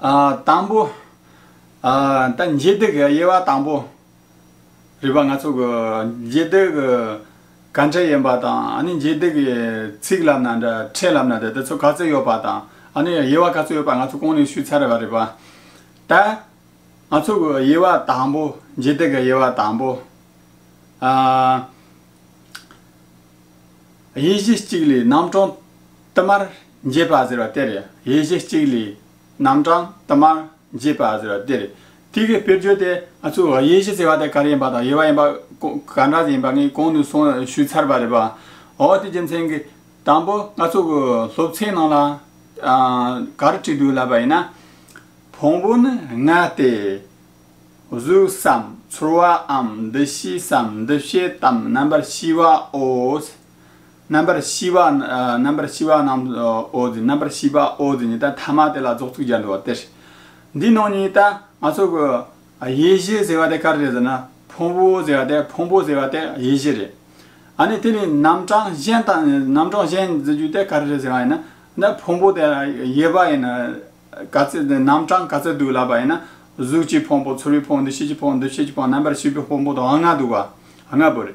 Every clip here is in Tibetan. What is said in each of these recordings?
དང་པོ། ད་མཇེ་སྡིག་གི་དབྱེ་བ་དང་པོ། རིག་པ་སྣ་ཚོགས་ཀྱི་མཇེ་སྡིག་གི་གང་འཕྲལ་ཡིན་པ་དང་ཨ་ནི་མཇེ་སྡིག་གི་ཚིག་ལབ་ན་འདྲ་ཕྲད་ལབ་ན་འདྲ་དེ་ཚོ་ག་ཚོད་ཡོད་པ་དང་ཨ་ནི་དབྱེ་བ་ག་ཚོད་ཡོད་པ་ང་ཚོ་གོང་ནས་ཞུས་ཚར་བ་རེད་པ། ད་ང་ཚོ་གི་དབྱེ་བ་དང་པོ་མཇེ་སྡིག་གི་དབྱེ་བ་དང་པོ། དབྱེ་གཞི་གཅིག་ལས་རྣམ་གྲངས་དུ་མར། འབྱེད་པ་ཟེར་བ་དེར་དབྱེ་གཞི་གཅིག་ལས། རྣམ་གྲངས་དུ་མར་འབྱེད་པ་ཟེར་བ་དེར་ཐིག་གི་དཔེར་བརྗོད་དེ་ང་ཚོས་དབྱེ་གཞི་ཟེར་བ་དེ་ག་རེ་ཡིན་པ་དང་དབྱེ་བ་ཡིན་པ་ག་འདྲ་ཡིན་པ་ངས་གོང་དུ་སོང་ཞུས་ཚར་བ་རེད་པ། འོ་དེ་རྒྱུ་མཚན་གྱིས་དང་པོ་ང་ཚོ་གི་སློབ་ཚན་ནང་ལ་ག་རེ་བྲིས་འདུག་ལབ་པ་ཡིན་ན། བོང་བུ་ནི་ལྔ་སྟེ། གཟུགས་སམ་ཚོར་བའམ་འདུ་ཤེས་སམ་འདུ་བྱེད་དམ་རྣམ་པར་ཤེས་པའོ། རྣམ་པར་ཤེས་པ། རྣམ་པར་ཤེས་པ་རྣམས་ཨོ་ཛི། རྣམ་པར་ཤེས་པ་ཨོ་ཛི་ནི་ད་ཐ་མ་དེ་ལ་རྫོགས་ཚུལ་སྦྱར་འགྲོ་བ་སྟེ། འདིའི་ནང་ནས་ད་ང་ཚོ་གི། ཡེ་ཤེས་ཟེར་བ་དེ་ག་རེ་རེད་ཟེར་ན། ཕུང་པོ་ཟེར་བ་དེ་ཕུང་པོ་ཟེར་བ་དེ་ཡེ་ཤེས་རེད། ཨ་ནི་དེ་ནི་རྣམ་གྲངས་གཞན་དང་རྣམ་གྲངས་གཞན་ཟེར་རྒྱུ་དེ་ག་རེ་རེད་ཟེར་བ་ཡིན་ན། ད་ཕུང་པོ་དེ་ཡེ་བ་ཡིན། ག་ཚད་དེ་རྣམ་གྲངས་ག་ཚད་འདུག་ལབ་པ་ཡིན་ན། གཟུགས་ཀྱི་ཕུང་པོ་ཚོར་བའི་ཕུང་པོ་འདུ་ཤེས་ཀྱི་ཕུང་པོ་འདུ་བྱེད་ཀྱི་ཕུང་པོ་རྣམ་པར་ཤེས་པའི་ཕུང་པོ་དང་ལྔ་འདུག་བ། ལྔ་པོ་རེད།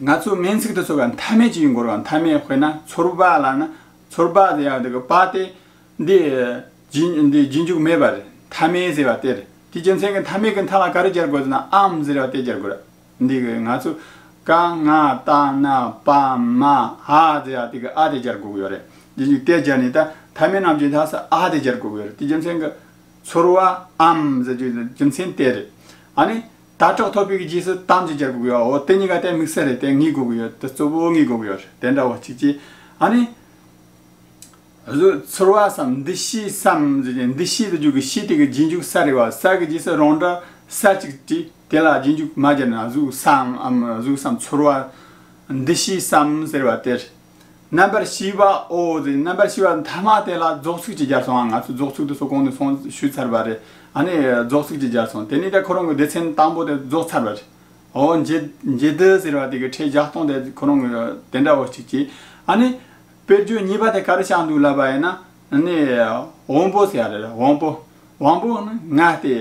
ང་ཚོ་སྨན་ཚིག་ཏུ་ཚོར་བ་མཐའ་མེད་ཅིག་ཡིན་འགོར་བ་མཐའ་མེད་དཔེར་ན་ཚོར་བ་ལ་ན་ཚོར་བ་དེ་ཡང་དེ་བ་སྟེ། འདི་རྗེས་འཇུག་མེད་པ་རེད་མཐའ་མེད་ཟེར་བ་དེ་རེད་དེ་རྒྱུ་མཚན་གྱི་མཐའ་མེད་ཀྱི་མཐའ་ལ་ག་རེ་སྦྱར་དགོས་ཟེར་ན་ཨམ་ཟེར་བ་དེ་སྦྱར་དགོས་རེད། འདི་ང་ཚོ་ཀ་ང་ཏ་ན་པ་མ་ཧ་ཟེར་བ་དེ་གི་ཨ་དེ་སྦྱར་དགོས་ཀྱི་ཡོད་རེད་རྗེས་འཇུག་དེ་སྦྱར་ནས་ད་མཐའ་མེད་རྣམས་ཀྱི་མཐའ་ས་ཨ་དེ་སྦྱར་དགོས་ཀྱི་ཡོད་རེད་དེ་རྒྱུ་མཚན་གྱི། ཚོར་བ་ཨམ་ཟེར་རྒྱུ་མཚན་དེ་རེད། ཨ་ནི། དྭ་ཕྲོག་ཐོབ་པའི་གི་རྗེས་སུ་གཏམ་གཅིག་རྒྱག་དགོས་གི་ཨོ་དེ་གཉིས་ཀ་ལྟའི་དམིགས་བསལ་རེད་དེ་ངེས་དགོས་གི་ཡོད་དེ་གཙོ་བོ་ངེས་དགོས་གི་ཡོད་རེད་དེ་འདྲ་བ་གཅིག་གཅིག་ཨ་ནི། བཟོད་ཚོར་བ་སམ་འདུ་ཤེས་སམ་ཟེར་གྱི་འདུ་ཤེས་དུ་འཇུག་གི་ཤེས་དེ་གི་རྗེས་འཇུག་ས་རེད་བ་ས་གི་རྗེས་སུ་རང་འདྲ་ས་གཅིག་དྲི་དེ་ལ་རྗེས་འཇུག་མ་བརྒྱབ་ན་གཟུགས་སམ་གཟུགས་སམ་ཚོར་བ་འདུ་ཤེས་སམ་ཟེར་བ་དེ་རེད། རྣམ་པར་ཤེས་པ་ཨོ་ཟེར་རྣམ་པར་ཤེས་པ་མཐའ་དམག་དེ་ལ་རྫོགས་ཚིག་ཅེས་སྦྱར་སོང་ང་ཚོས་རྫོགས་ཚིག་ཏུ་སོགས་གོང་ནས་གསུང་ཞུས་ཚར་བ་རེད་ཨ་ནི་རྫོགས་ཚིག་ཅེས་སྦྱར་སོང་དེ་ནི་དེ་ཁོ་རང་གི་སྡེ་ཚན་དང་པོ་དེ་རྫོགས་ཚར་བ་རེད་ཨོ། མཇེ་དི་ཟེར་བ་དེ་གི་ཁྲེས་བཞག་སྟོང་དེ་ཁོ་རང་གི་དེ་འདྲ་བོ་གཅིག་གྱིས་ཨ་ནི། དཔེར་བརྗོད་གཉིས་པ་དེ་ག་རེ་བཞག་འདུག་ལབ་པ་ཡིན་ན་ཨ་ནི། དབང་པོ་ཟེར་བ་རེད་དབང་པོ། དབང་པོ་ནི་ང་སྟེ།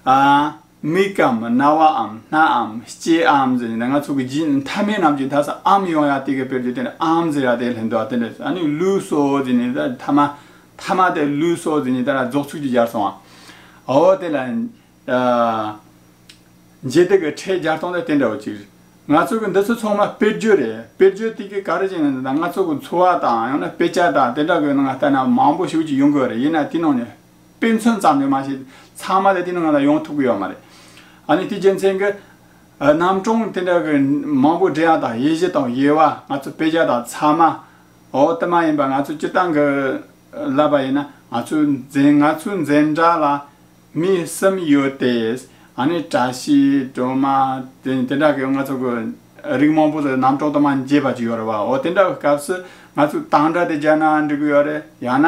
ཨ། མིག་གམ་རྣ་བའམ་སྣའམ་ལྕེའམ་ཟེར་ནས་ང་ཚོ་གི་ཇི་མཐའ་མའི་རྣམས་ཀྱི་དག་ས་ཨམ་ཡོང་ཡ་དེ་གི་དཔེར་བརྗོད་དེ་ནི་ཨམ་ཟེར་ཡ་དེ་ལྷན་དུ་ཨ་དེ་འདྲ་ཨ་ནི་ལུས་སོ་ཟེར་ནས་ད་མཐའ་མ་མཐའ་མ་དེ་ལུས་སོ་ཟེར་ནས་ད་རྫོགས་ཚུལ་གྱི་སྦྱར་སོང་ཨ་འོ་དེ་ལ་འཇལ་དེ་གི་ཕྲད་སྦྱར་སྟངས་དེ་དེ་འདྲ་བ་ཅིག་རེད། ང་ཚོ་གི་འདི་ཚོ་ཚང་མ་དཔེར་བརྗོད་རེད་དཔེར་བརྗོད་དེ་གི་ག་རེ་བྱས་ན་ད་ང་ཚོ་གི་འཚོ་བ་དང་ཡང་ན་དཔེ་ཆ་དང་དེ་འདྲ་གི་ནང་ལྟ་ན་མང་པོ་ཞིག་ཅིག་ཡོང་གི་རེད་ཡིན་ན་དེ་ནང་ནས་དཔེ་མཚོན་ཙམ་ལས་མ་བྱས་ཏེ་ཚང་མ་ལས་དེ་ནི་ང་ལ་ཡོང་ཐུབ་ཀྱི་ཡོད་མ་རེད། ཨ་ནི་དེའི་རྒྱུ་མཚན་གྱིས། རྣམ་གྲངས་དེ་འདྲ་གི་མང་པོའི་འབྲེལ་ཡག་དང་དབྱེ་གཞི་དང་དབྱེ་བ་ང་ཚོ་དཔེ་ཆ་དང་ཚང་མ་འོག་ཏུ་མ་ཡིན་པར་ང་ཚོ་སྤྱིར་བཏང་གི་ལབ་པ་ཡིན་ན་ང་ཚོའི་འཛིན་ང་ཚོའི་འཛིན་གྲྭ་ལ་མི་གསུམ་ཡོད་དེ། ཨ་ནི་བཀྲ་ཤིས་སྒྲོལ་མ་དེ་དེ་འདྲ་གི་ང་ཚོ་གི་རིགས་མང་པོ་རྣམ་གྲངས་དུ་མ་འབྱེད་པ་ཅིག་ཡོད་རེད་བ་འོ་དེ་འདྲ་བའི་སྐབས་སུ་ང་ཚོས་དང་སྒྲ་དེ་རྒྱ་ནང་འབྲི་གི་ཡོད་རེད་ཡང་ན།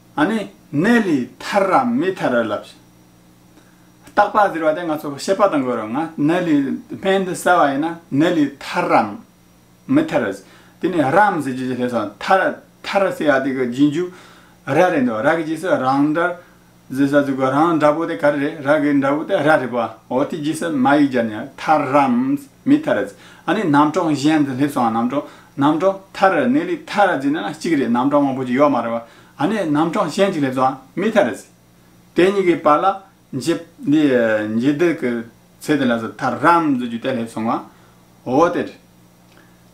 ཨ་ནི་ནེ་ལི་ཐར་ར་མི་ཐར་ར་ལབ། རྟག་པ་ཟེར་བ་དེ་ང་ཚོ་ཤེས་པ་དང་གོ་རོ་ང་ནེ་ལི་སྨན་དུ་གསལ་བ་ཡིན་ན་ནེ་ལི་ཐར་ར་མི་ཐར་ར། དེ་ནི་རམ་ཟེར་རྒྱུ་ཇི་སླེབས་སོང་ཐར་ར་ཐར་ར་ཟེར་བ་དེ་གི་རྗེས་འཇུག་ར་རེད་འདུག་ར་གི་རྗེས་སུ་རང་འདྲར་ཟེར་ས་འདུག་གོ་རང་འདྲ་པོ་དེ་ག་རེ་རེད་ར་གི་འདྲ་པོ་དེ་ར་རེད་པོ་ཨོ་དེ་རྗེས་སུ་མ་ཡིག་སྦྱར་ནས་ཐར་རམ་མི་ཐར་ར། ཨ་ནི་རྣམ་གྲངས་གཞན་དུ་སླེབས་སོང་རྣམ་གྲངས་རྣམ་གྲངས་ཐ་ར་ནེ་ལི་ཐ་ར་ཛི་ནི་ན་གཅིག་རེད་རྣམ་གྲངས་མང་པོ་ཅིག་ཡོད་མ་རེད་བ་ཨ་ནེ་རྣམ་གྲངས་གཞན་གཅིག་ལས་ཙོ་ཨ་མི་ཐ་ར་ཛི། དེ་གཉིས་ཀའི་བར་ལ་འཇི། འདི་འཇི་དི་གི་ཚེ་དེ་ལ་ཟི་ཐ་རམ་ཛི་རྒྱུ་དེ་སླེབས་སོང་བ་འོ་དེ་རེད།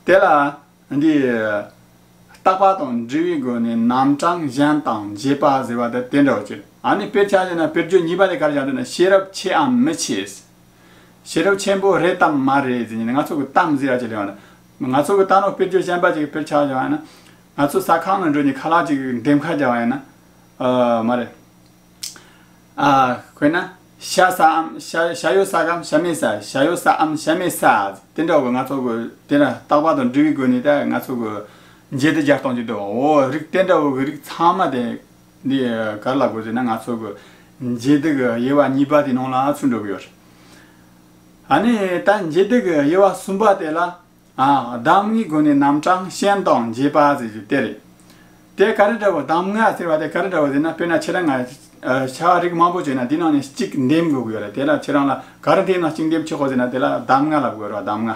དེ་ལ་འདི། རྟག་པ་དང་འབྲི་བའི་སྒོ་ནས་རྣམ་གྲངས་གཞན་དང་འཇི་པ་ཟེར་བ་དེ་དེ་འདྲ་བ་ཅིག་རེད་ཨ་ནེ་དཔེར་བྱ་ཞེ་ན་དཔེར་བརྗོད་གཉིས་པ་ལས་གར་བྱང་དུ་ན་ཤེས་རབ་ཆེ་འམ་མི་ཆེ། ཤེས་རབ་ཆེན་པོ་རེད་དམ་མ་རེད་ཟེར་ནས་ང་ཚོ་གི་གཏམ་ཟེར་ཡག་ཅིག་ལོས་ཡོང་ང་ཚོ་གི་ལྟ་ནོར་དཔེར་བརྗོད་ཞན་པ་ཅིག་ཕེར་ཆགས་བྱུང་བ་ཡིན་ན། ང་ཚོ་ཟ་ཁང་ནང་འགྲོ་ནས་ཁ་ལག་ཅིག་འདེམས་ཁ་རྒྱག་པ་ཡིན་ན། མ་རེད། དཔེར་ན། ཤ་ཟ་འམ་ཤ་ཡོད་ཟ་གམ་ཤ་མེད་ཟ་ཤ་ཡོད་ཟ་འམ་ཤ་མེད་ཟ་དེ་འདྲ་བ་ང་ཚོ་གི་དེ་འདྲ་རྟག་པ་དང་འབྲི་བའི་སྒོ་ནས་ད་ང་ཚོ་གི་མཇལ་དུ་བརྒྱ་སྟོང་ཅིག་འདུག་བ་འོ་རིགས་དེ་འདྲ་བོ་གི་རིགས་ཚང་མ་དེ། འདི་ག་ལ་དགོས་ཟེར་ན་ང་ཚོ་གི་འབྱེད་སྡུག་གི་དབྱེ་བ་གཉིས་པ་དེ་ནང་ལ་ཚུད་འགྲོ་གི་ཡོད། ཨ་ནི་ད་འབྱེད་སྡུག་གི་དབྱེ་བ་གསུམ་པ་དེ་ལ། གདམས་ངག་གི་སྒོ་ནས་རྣམ་གྲངས་གཞན་དང་འབྱེད་པ་ཟེར་རྒྱུ་དེ་རེད། དེ་ག་རེ་འདྲ་བོ་གདམས་ངག་ཟེར་བ་དེ་ག་རེ་འདྲ་བོ་ཟེར་ན་དཔེར་ན་ཁྱེད་རང་ང་བྱ་བ་རིགས་མང་པོ་བྱས་ན་དེའི་ནང་ནས་གཅིག་འདེམས་དགོས་ཀྱི་ཡོད་རེད་དེ་ལ་ཁྱེད་རང་ལ་ག་རེ་འདེམས་ན་གཅིག་འདེམས་ཆོག་གོ་ཟེར་ན་དེ་ལ་གདམས་ངག་ལ་དགོས་རོགས་གདམས་ངག་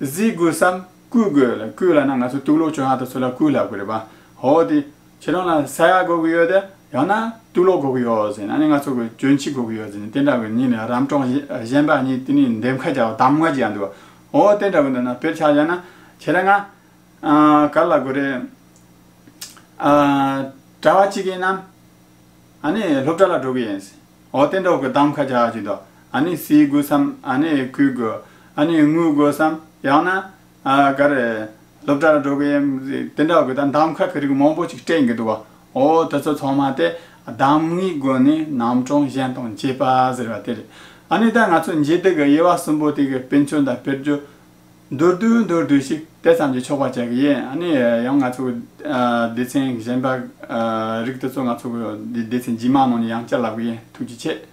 གཟིགས་དགོས་སམ་བསྐུལ་དགོས་ལ་བསྐུལ་ལ་ན་ང་ཚོ་གཏུག་ལོག་ཆོས་ཧ་ད་ཚོ་ལ་བསྐུལ་ལབ་གི་རེད་པ་ཧོ་དེ་ཁྱེད་རང་ལ་ས་ཡ་དགོས་གི་ཡོད་དེ་ཡང་ན་གཏུག་ལོག་དགོས་གི་ཡོད་ཟེར་ན་ནི་ང་ཚོ་གི་གྱོན་ཆི་དགོས་གི་ཡོད་ཟེར་ནི་དེ་འདྲ་བའི་ཉིན་ནི་རམ་གྲོགས་གཞན་པ་གཉིས་དེ་ནི་འདེམས་ཁ་རྒྱག་གདམ་ང་རྒྱག་འདུག་ཨོ་དེ་འདྲ་བའི་འདོད་ན་ཕེར་ཆག་བཞག་ན་ཁྱེད་རང་ག་ལ་དགོས་རེད། གྲྭ་བ་གཅིག་ཡིན་ནམ། ཨ་ནི་སློབ་གྲྭ་ལ་འགྲོ་གི་ཡིན། འོ་སྟེ་འགྲོ་གི་དམ་ཁ་རྒྱག་ཅིག་དོ། ཨ་ནི་བསིལ་དགོས་སམ་ཨ་ནི་སྐུལ་དགོས། ཨ་ནི་རྔུལ་དགོས་སམ། ཡང་ན། ཨ་ག་རེ། སློབ་གྲྭ་ལ་འགྲོ་གི་ཡིན། དེ་འདྲ་གི་ད་འདམ་ཁ་གི་རིགས་མང་པོ་ཅིག་སྤྲད་གི་འདུག་བ། འོ་དེ་ཚོ་ཚང་མ་སྟེ། འདམ་རྔུལ་དགོས་ནི་རྣམ་གྲངས་གཞན་དང་འབྱེད་པ་ཟེར་བ་དེ་རེད། ཨ་ནི་ད་ང་ཚོ་འབྱེད་དེ་གི་དབྱེ་བ་གསུམ་པོ་དེ་གི་དཔེ་མཆོག་དང་དཔེར་བརྗོད། མདོར་བསྡུས་མདོར་བསྡུས་ཤིག་དེ་ཙམ་གྱིས་ཆོག་པར་བྱ་གི་ཡིན། ཨ་ནི་ཡང་ང་ཚོ་སྡེ་ཚན་གཞན་པ་རིགས་དེ་ཚོ་ང་ཚོ་སྡེ་ཚན་ཇི་མང་ནང་ནས་ཡང་བསྐྱར་ལབ་གི་ཡིན་ཐུགས་རྗེ་ཆེ།